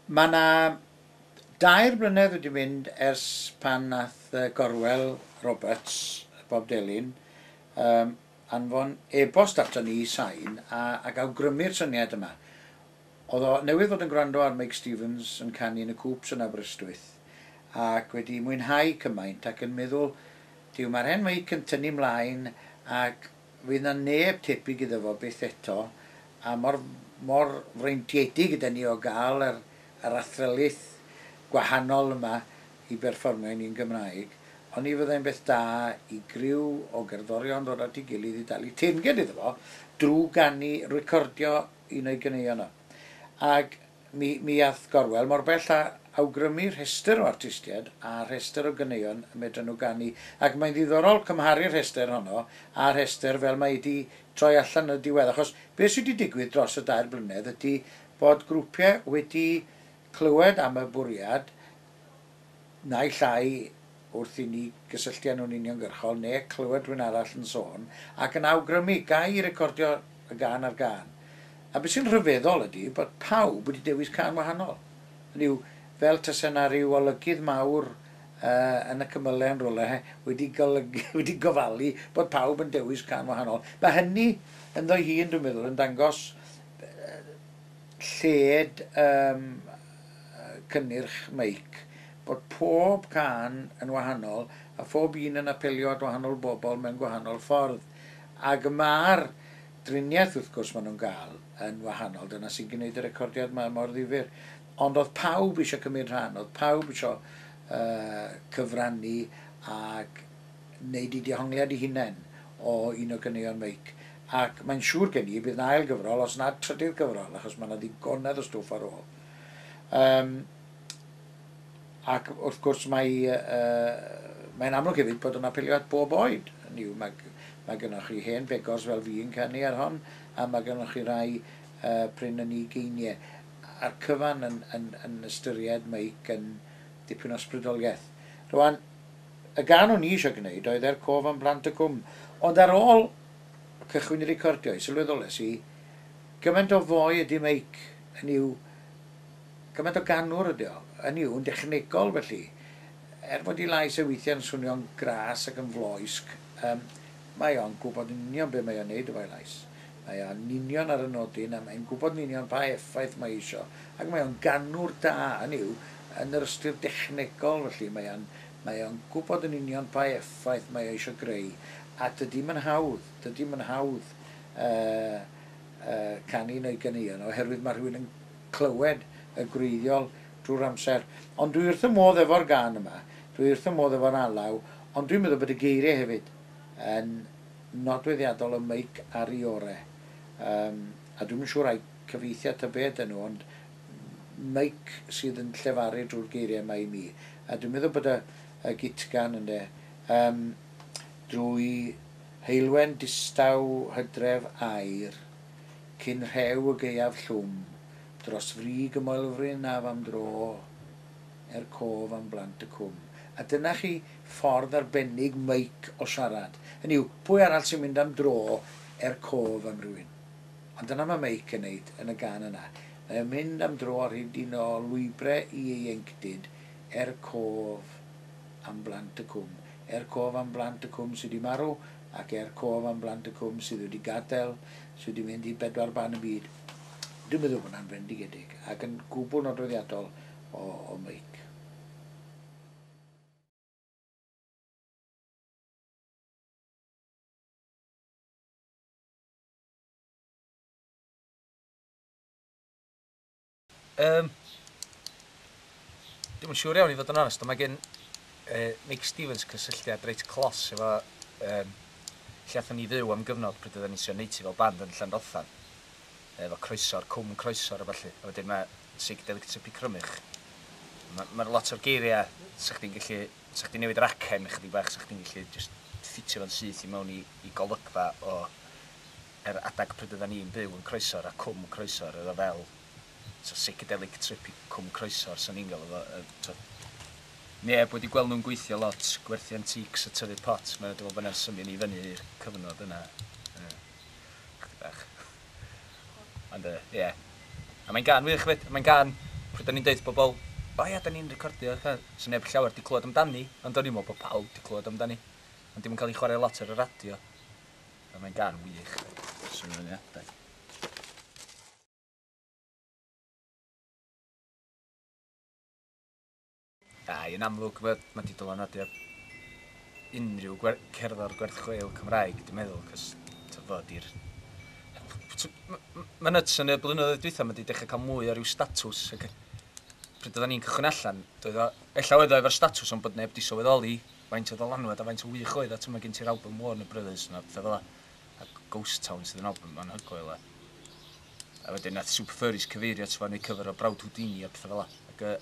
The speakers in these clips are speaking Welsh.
Mae 'na dair blynedd wedi mynd ers pan nath yy Gorwel Roberts, Bob Delyn, yym anfon e-bost aton ni i Sain a ag awgrymu'r syniad yma. O'dd o newydd fod yn gwrando ar Meic Stevens yn canu yn y Coops yn Aberystwyth ac wedi mwynhau cymaint ac yn meddwl, Duw, ma'r hen Meic yn tynnu 'mlaen ac Fydd 'na neb tebyg iddo fo byth eto, a mor mor freintiedig ydan ni o gael yr yr athrylith gwahanol yma i berfformio i ni'n Gymraeg, oni fyddai'n beth da i griw o gerddorion ddod at ei gilydd i dalu teyrnged iddo fo drw ganu, recordio un o'i ganeuon o. Ag Mi, mi ath Gorwel mor bell â awgrymu rhestr o artistiaid a rhestr o ganeuon y medran nhw ganu, ac mae'n ddiddorol cymharu'r rhestr honno â'r rhestr fel mae 'di troi allan yn y diwedd, achos be' sy' 'di digwydd dros y dair blynedd ydi bod grwpiau wedi clywed am y bwriad, naill ai wrth i ni gysylltu â nhw'n uniongyrchol neu clywed rhywun arall yn sôn ac yn awgrymu, ga i recordio y gân ar gân? A beth sy'n rhyfeddol ydi bod pawb wedi dewis cân wahanol. Hynny yw, fel tase 'na ryw olygydd mawr yn y cymylau yn rywle wedi golygu, wedi gofalu bod pawb yn dewis cân wahanol. Mae hynny ynddo'i hun, dwi'n meddwl, yn dangos lled ym cynnyrch meic, bod pob cân yn wahanol a phob un yn apelio at wahanol bobl mewn gwahanol ffordd, ac y mae'r driniaeth wrth gwrs maen nhw'n gael yn wahanol, dyna sy'n gwneud y recordiad ma mor ddifyr. Ond oedd pawb eisiau cymryd rhan, oedd pawb eisiau cyfrannu ac wneud ei dehongliad ei hunain o un o ganeuon Meic, ac mae'n siŵr gen i y bydd 'na ail gyfrol, os nad trydydd gyfrol, achos mae 'na ddigonedd o stwff ar ôl. Um, ac wrth gwrs mae, uh, mae'n amlwg hefyd bod yn apelio at bob oed. Hynny yw, mae, mae gennych chi hen fegors fel fi yn canu ar hon, a mae gennych chi rai uh, prin yn ei geiniau. A'r cyfan yn, yn, yn ystyried Meic yn dipyn o sbrydoliaeth. Rwan, Y gân o'n i eisiau gwneud oedd 'Er Cof am Blant y Cwm', ond ar ôl cychwyn i recordio i sylweddolais i gymaint o foi ydy meic, hynny yw, gymaint o ganwr ydy o, hynny yw, yn dechnegol felly, er fod ei lais e weithiau'n swnio'n gras ac yn floesg, yym, mae o'n gwybod yn union be mae o'n neud efo'i lais. Mae o yn union ar y nodyn a mae'n gwybod yn union pa effaith mae eisio ac mae o'n ganwr da, hynny yw, yn yr ystyr dechnegol felly mae o'n Mae o'n gwybod yn union pa effaith mae o eisiau greu, a dydi'm yn hawdd, dydi'm yn hawdd canu neu ganeuon, oherwydd mae rhywun yn clywed y gwreiddiol drwy'r amser. Ond dwi wrth fy modd efo'r gân yma, dwi wrth fy modd efo'r alaw, ond dwi'n meddwl bod y geiriau hefyd yn nodweddiadol o Meic a Riore. Yym, a dwi'm yn siŵr ai cyfeithiad ta be ydyn nhw, ond meic sydd yn llefaru drwy'r geiriau yma i mi. A dwi'n meddwl bod y, y gitgan ynde, um, drwy heulwen distaw hydref aer, cyn rhew y gaeaf llwm, dros frig y moelfryn af am dro, er cof am blant y cwm. A dyna chi ffordd arbennig meic o siarad. Hynny yw, pwy arall sy'n mynd am dro er cof am rywun? Ond dyna mae Meic yn neud yn y gan yna. Mae o'n mynd am dro ar hyd un o lwybre ieuenctid er cof am blant y cwm. Er cof am blant y cwm sy' 'di marw ac er cof am blant y cwm sydd wedi gadael, sy' wedi mynd i bedwar ban y byd. Dwi'n meddwl bod 'na'n fendigedig ac yn gwbl nodweddiadol o o Meic. Yym, dwi'm yn siŵr iawn i fod yn onest, ond mae gen yy Nick Stevens cysylltiad reit clos efo yym lle athon ni fyw am gyfnod pryd oedden ni'n trio neud hi fel band yn Llanrothan, efo croeso'r Cwm Croesor a ballu, a wedyn mae Seigdelic Tripi Crymych. Ma' ma' 'na lot o'r geiria' 'sa chdi'n gallu 'Sa chdi'n newid yr acen ychydig bach, 'sa chdi'n gallu jyst ffitio fo'n syth i mewn i golygfa o yr adeg pryd oeddan ni'n byw yn Croesor a Cwm Croesor, oedd o fel t'o' psychedelic trip i Cwm Croesor 'san ni'n galw fo yy t'o' neb wedi gweld nhw'n gweithio lot, gwerthu antiques a tyfu pot, ma' dwi me'wl bo' 'na'n symio ni i fyny i'r cyfnod yna. Ie. Chydig bach. Ond yy, ie. A mae'n gân wych 'fyd, mae'n gân pryd o'n i'n deud wrth bobl, O ia, 'dan ni'n recordio fatha, 'sa neb llawer 'di clywed amdani, ond o'n i'n meddwl bod pawb 'di clywed amdani, ond 'di o'm yn cael ei chwarae lot ar y radio. Ond mae'n gân wych. Swn i'n mwynhau adeg. Yy, yn amlwg, ma' ma' 'di dylanwadu ar unrhyw gwer- cerddor gwerth chweil Cymraeg, dwi'n meddwl, 'c'os t'o' fo 'di'r t- m- m- ma'n nyts yn y blynyddoedd dwytha ma' 'di dechre ca'l mwy o ryw statws ag yy pryd oddan ni'n cychwyn allan, doedd o... Ella oedd o efo'r statws ond bod neb 'di sylweddoli faint o ddylanwad a faint o wych oedd o, t'mo' ma' gen ti'r albwm Warner Brothers 'ma a petha fela. a Ghost Town sydd yn album anhygoel e. A wedyn nath Super Furries cyfeirio at fo neu cyfer o Brawd Houdini a pethau fel la. Ac y...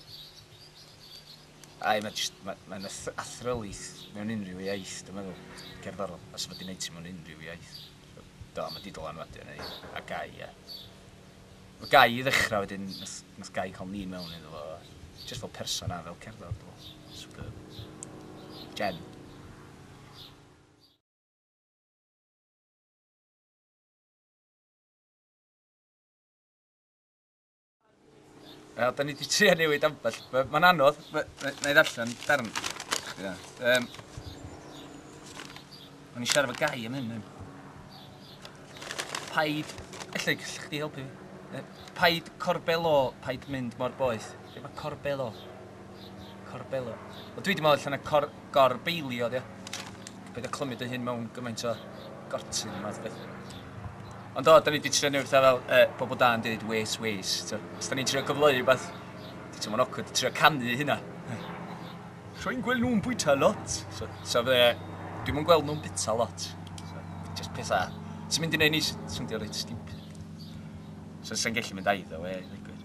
Ai, mae just, mae, mae'n athrylith mewn unrhyw iaith, dwi'n meddwl. Cerddorol. A sef wedi gwneud ti mewn unrhyw iaith. Do, mae di dylanwadu arna i. A gai, ia. Mae gai i ddechrau wedyn, nath, nath gai cael ni mewn iddo fo. Just fel person a fel cerddor, dwi'n meddwl. Superb. Jen. Wel, da ni wedi trio newid ambell. Mae'n anodd, na i ddarllen darn. Yeah. Um, Mae'n i siarad fy gai am hyn. Paid, allai gallwch chdi helpu fi. Paid corbelo, paid mynd mor boeth. Be mae corbelo? Corbelio. Wel dwi 'di meddwl allan y cor, gorbeilio ydi o. Paid â clymu dy hun mewn gymaint o gortyn a math beth. Ond o, da ni wedi trio newid pethau fel uh, bobl da yn dweud wes, wes. Os da ni'n trio gyfleu rhywbeth, ti'n teimlo'n awkward trio canu hynna. Rwy'n gweld nhw'n bwyta lot. So, so fe, dwi'n mwyn gweld nhw'n bita lot. So, just pethau. Ti'n mynd i wneud ni swndio reit stupid. So, sy'n gallu mynd aiddo, we, ddigwydd.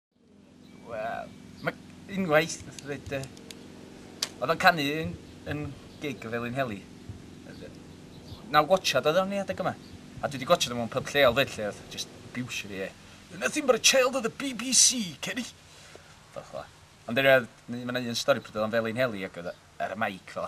Wel, mae unwaith, nath ddweud, oedd o'n canu yn, yn gig o Felin Heli. Naw gwachad oedd o'n ei adeg yma. A dwi wedi gwachad o'n pub lleol fyd lle oedd just abuse fi e. You're nothing but a child of the BBC, Kenny. Fel chwa. Ond erioed, mae yna un stori pryd oedd o'n Felin Heli ac oedd ar y maic fel